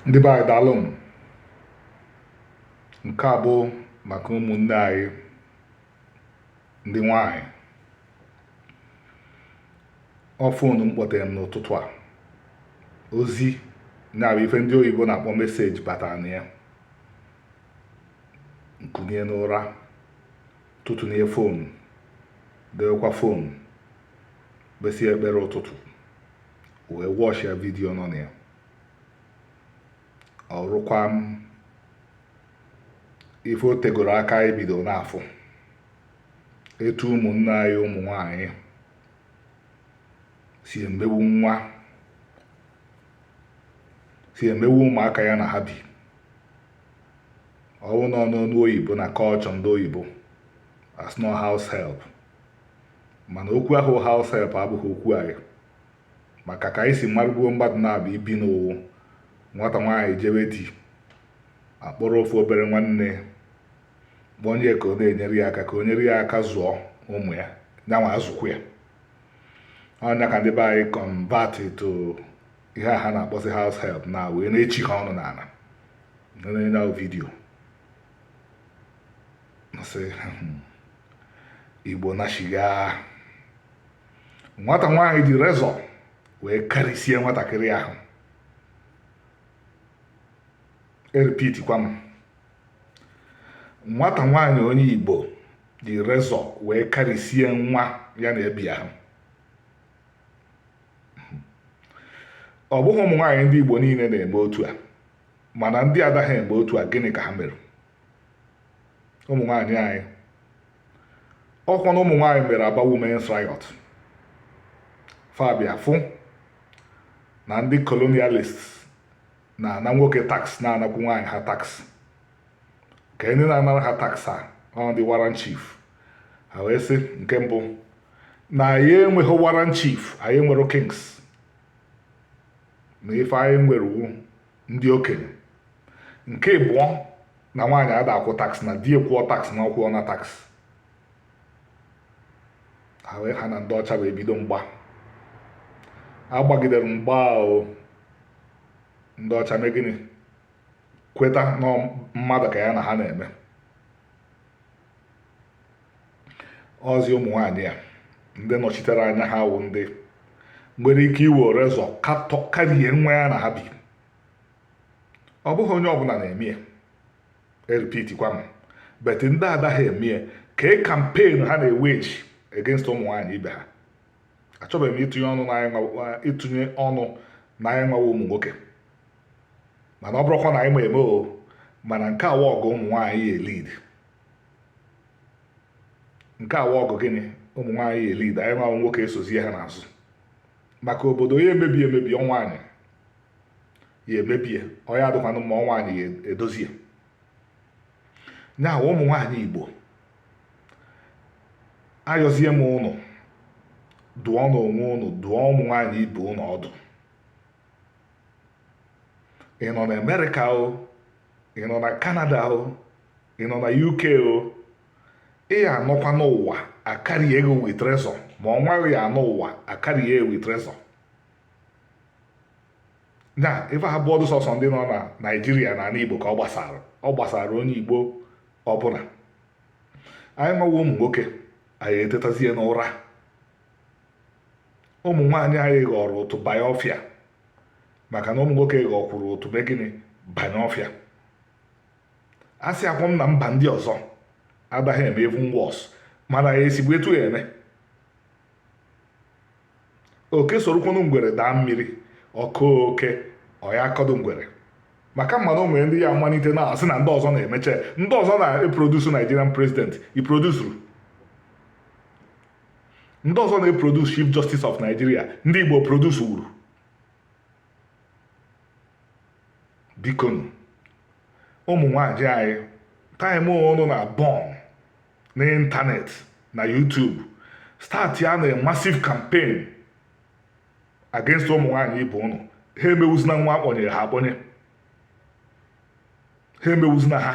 ndị be anyị daalụ m nke a bụ maka ụmụnne anyị ndị nwanyị ọ fonu m kpọtere m n'ụtụtụ a ozi ya bụ ife ndị oyibo na-akpọ message batara na ya m kunie n'ụra tụtụnie fonu dewekwa fonu kpesịa ekpere ụtụtụ wee wọchịa vidiyo nọ na ya ọ rụkwa m ife o tegoro aka anyị bido na-afụ etu ụmụnne anyị ụmụ nwanyị si emegbu nwa si emegbu ụmụaka ya na ha bi ọ wụnụ n'ọnụ oyibo na culture ndị oyibo a sị na ọ house help mana okwu ahụ house help abụghị okwu anyị maka ka anyị si marụ gboo mmadụ na-abụ ibi na ọ wụ nwata nwaanyị jewe di a kpọrọ ofu obere nwanne kpọnye ka ọ na-enyere ya aka ka o nyere ya aka zụọ ụmụ ya nyanwa azụkwuo ya ọ nya ka ndị be anyị convert to ihe a ha na-akpọzi house help na wee na-echi ha ọnụ n'ana na vidiyo hmm, igbo na shiga nwata nwaanyị ji razor wee karịsie nwatakịrị ahụ erepitikwa m nwata nwaanyị onye igbo ji razor wee karịsie nwa ya na ya bi ahụ ọ bụghị ụmụ nwaanyị ndị igbo niile na-eme otu a mana ndị adaghị eme otu a gịnị ka ha mere ụmụ nwaanyị anyị ọkwanụ ụmụ nwaanyị mere aba women's riot fa bịa fụ na ndị colonialist na-ana nwoke tax na-anakwu nwaanyị ha tax ka ndị na-anara ha tax a ọ ndị warrant chief ha wee sị nke mbụ na anyị enweghị warrant chief anyị nwere kings na ife anyị nwere wu ndị okenye nke ịbụọ na nwaanyị ada akwụ tax na di ya kwụọ tax na ọ kwụọna tax ha wee ha na ndị ọcha wee bido mgba a gbagidere mgba ahụ ndị ọcha mee gịnị kweta na mmadụ ka ya na ha na-eme ọzi ụmụ nwaanyị a ndị nọchitere anya ha wụ ndị nwere ike iwere razor karie nwa ya na ha bi ọ bụghị onye ọbụla na-eme ya erepeatikwa m but ndị adaghị eme ya kee campaign ha na-ewage against ụmụ nwaanyị ibe ha achọbeghị m ịtụnye ọnụ na anyị nwawa ụmụ nwoke mana ọ bụrụkwa na anyị ma eme o mana nke a wụ ọgụ ụmụ nwaanyị ya elead nke a wụ ọgụ gịnị ụmụ nwaanyị ya elead anyị nwa nwoke esozie ha n'azụ maka obodo ya emebi emebi ọ nwaanyị ya emebie ọ ya adịkwanụ mma ọ nwaanyị ya edozie nya wụ ụmụ nwaanyị igbo ayọzie m ụnụ dụọnụ onwe ụnụ dụọ ụmụ nwaanyị ibe ụnụ ọdụ ị nọ na Amerịka o ị nọ na Kanada o ị nọ na UK o ị ya anọkwanụ ụwa akarie gị with razor ma ọ nwa gị ya anọ ụwa akarie ya with razor na ife a abụọdụ sọsọ ndị nọ na naijiria na ala igbo ka ọ gbasara ọ gbasara onye igbo ọbụla anyị nwawa ụmụ nwoke anyị etetazie n'ụra ụmụ nwaanyị anyị ghọrọ ụtụ banye ọfịa maka na ụmụ nwoke ghọkwuru ụtụ mee gịnị banye ọfịa asịkwọ m na mba ndị ọzọ adaghị eme even worse mana ya esigbu etu ya eme oke sorokwanụ ngwere daa mmiri ọ kọọ oke ọ ya akọdụ ngwere maka mmadụ o nwere ndị ya amalite na-asị na ndị ọzọ na-emecha ndị ọzọ na-eproduce Nigerian president i produsuru ndị ọzọ na-eproduce chief justice of nigeria ndị igbo produce wuru bikonụ ụmụ nwanyị anyị time ụnụ na-eburn n'ịntanetị na YouTube startịanụ a massive campaign against ụmụ nwanyị ibe ụnụ ha emewuzina nwa a kpọnyere ha akpọnye ha emewuzina ha